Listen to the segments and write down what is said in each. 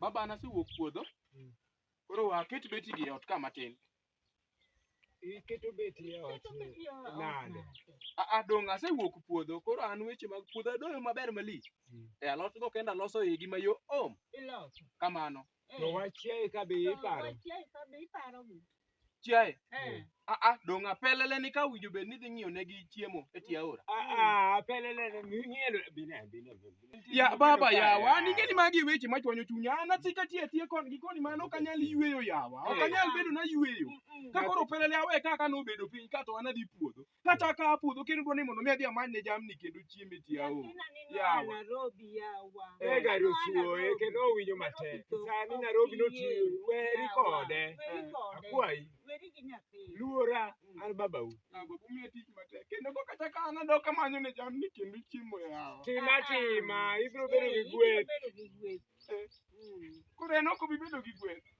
Baba na sewuok puodho. Mm. Koro waket beti gi ot ka matin. Iketo beti e ot. Nade? A a dong' asewuok puodho. Koro an weche mag puodho adoyo maber malich. Mm. E alot go kenda loso igi mayo om. Iloso. Kamano. To wachiaye ka be iparo. Chiaye. Eh. Ah ah, dong' apelele ni ka winjo bed ni dhi ng'iyo ne gi chiemo e tie aora. Ah ah, pelele ne ng'ielo bine bine. Ya baba yawa, an ing'e ni magi weche ma chwanyo chunya. An asika tie tie kon gi koni mano ok anyal yueyo yawa. Ok anyal bedo na yueyo. Ka koro pelele awe kaka nobedo piny ka to an adhi puodho. kata ka apudho kendo dwa ni mondo mi adhi amany ne jamni kendo chiemo e tie aora Nyathina ni noa Yawa. Nairobi yawa. e gari Noa osuoye Nairobi. kendo owinjo matek Nairobi sani ok Nairobi iyie. notiyo weri Yawa. kode Weri Eh, kode. akwayi Weri gi nyathi. luora an babau Yawa, umiya tich matek kendo kok kata ka an adok amanyo ne jamni kendo chiemo e aora tima tima ibiro bedo gi Eh, ibiro gweth bedo gi gweth. Eh. Mm. koro en ok obi bedo gi gweth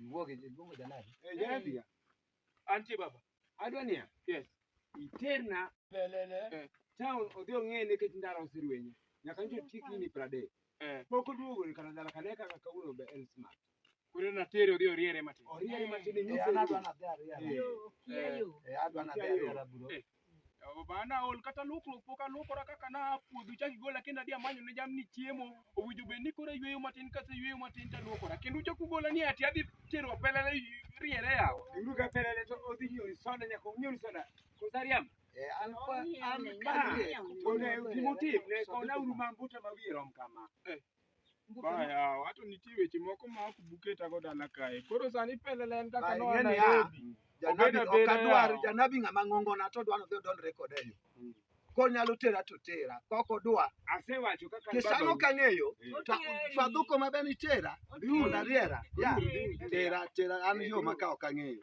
Iwuogi iluongo janadi. Eh, janadi ya. Antie baba. Adwa niya. Yes. Iterna. Lelele. Eh. Town odhi ong'e nikech ndara oserwenye. Nyaka njo tiki ni prade. Eh. Pok oduogo ni kana dala kane kaka kawuono be el smart. Kure na tere odhi oriere matin. Oriere matin ni nyise. Eh, adwa na dhi ariere. Eh, adwa na dhi ariere bro. Bana ol kata luokruok pok aluokora kaka na a puodho chak igola kendo adhi amanyo ne jamni chiemo. Owinjo bed ni koro ayweyo matin kase yweyo matin to aluokora. Kendo uchak ugola ni ati adhi tero pelele riere yawa. Uru ka pelele to odhi nyori soda nyaka onyori soda. Kosa riambo. Eh, an kwa an ka kone gimotim ne kona uru mambuta ma wiye rom kama. Mbuke ma- Baya, wato nitie weche moko ma ok buketago dala kae. Koro sani pelele en kaka Baya, noa ing'e ni ya. Nairobi. Janabi Obeda ok beda adwar, yawa. janabi ng'ama ng'ongona to odwa nodhi odonjre koda e yo. Mm. Konyalo tera to tera, kok odwa. Asewacho kaka an Kisano baba- kang'eyo, Eh. to Otieri. fadhuko ma be nitera, Otieri. yud ariera. Ya, Otieri. tera, tera an yo ma ka ok ang'eyo.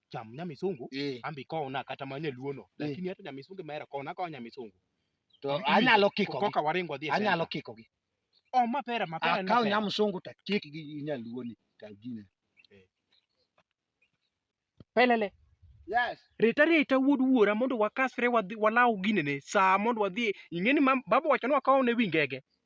cham nyamisungu Eh, ambi kona kata ma nyaluono Eh. lakini hata nyamisungu mera kona ka nyamisungu to Mm. anyalo kiko gi. koka waringo dhi e Anyalo center. kiko gi. oh mapera mapera ni Akaw mapera. nyamsungu to kik gi nyaluoni to gine. pelele Yes. reta reta wuod wuora mondo wakasre wadhi walaw ginene saa mondo wadhi ing'eni mam- baba wacho ni wakaw ne wi ngege